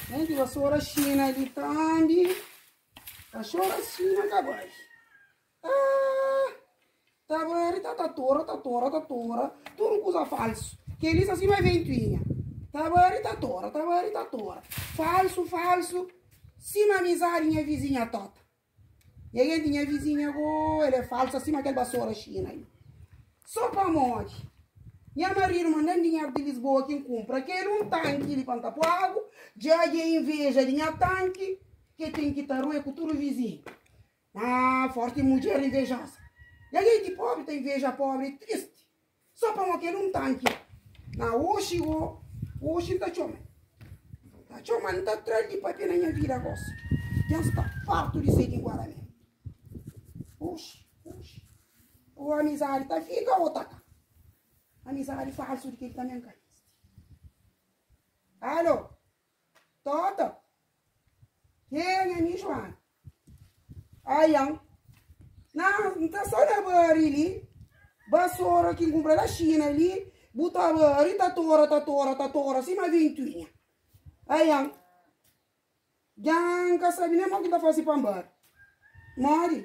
Gente, vassoura xina ali tambi. Cachorro é xina cá baixo. Ah, tá bem, tá, tá tora, tá tora, tá tora. Tudo coisa falso. Que eles assim vai ventuinha. Tá bem, tá tora, tá bem, tá tora. Falso, falso. Cima amizade, minha vizinha tota. Nha genti, nha vizinha go El é falsu asima kel basora xina li Sô pamodi nha maridu manda-m dinheru di Lisboa ki N kunpra kel un tanki li pa N ta pô agu Dja dja inveja di nha tanki Ke ten ki ta rue ku tudu vizinhu Haa forti mudjer invejoza Nha genti, pobri ta inveja pobri, é tristi. Só pa mo kel un tanki na oxi go oxi nta txoma nta txoma nta tra li pape na nha vida gosi dja nsta fartu di sedi guarané oxi oxi o amizadi ta fika o ta ka amizadi falsu di kel ta men ka existe alo Toto. Hei, nha ami Joana. Aian. Nan, N ta so na bari li. Basora ki N kumpra na Shina li, bu ta bari, ta tora, ta tora, ta tora sima vintuinha. Aian. Djan N ka sabi nen mo ki N ta fasi pa N bari. Modi?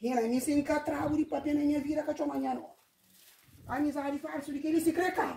Nha ami sen ka tragu di papia na nha vida ka txoma nha nome. Amizadi falsu di kel li si kre kaba.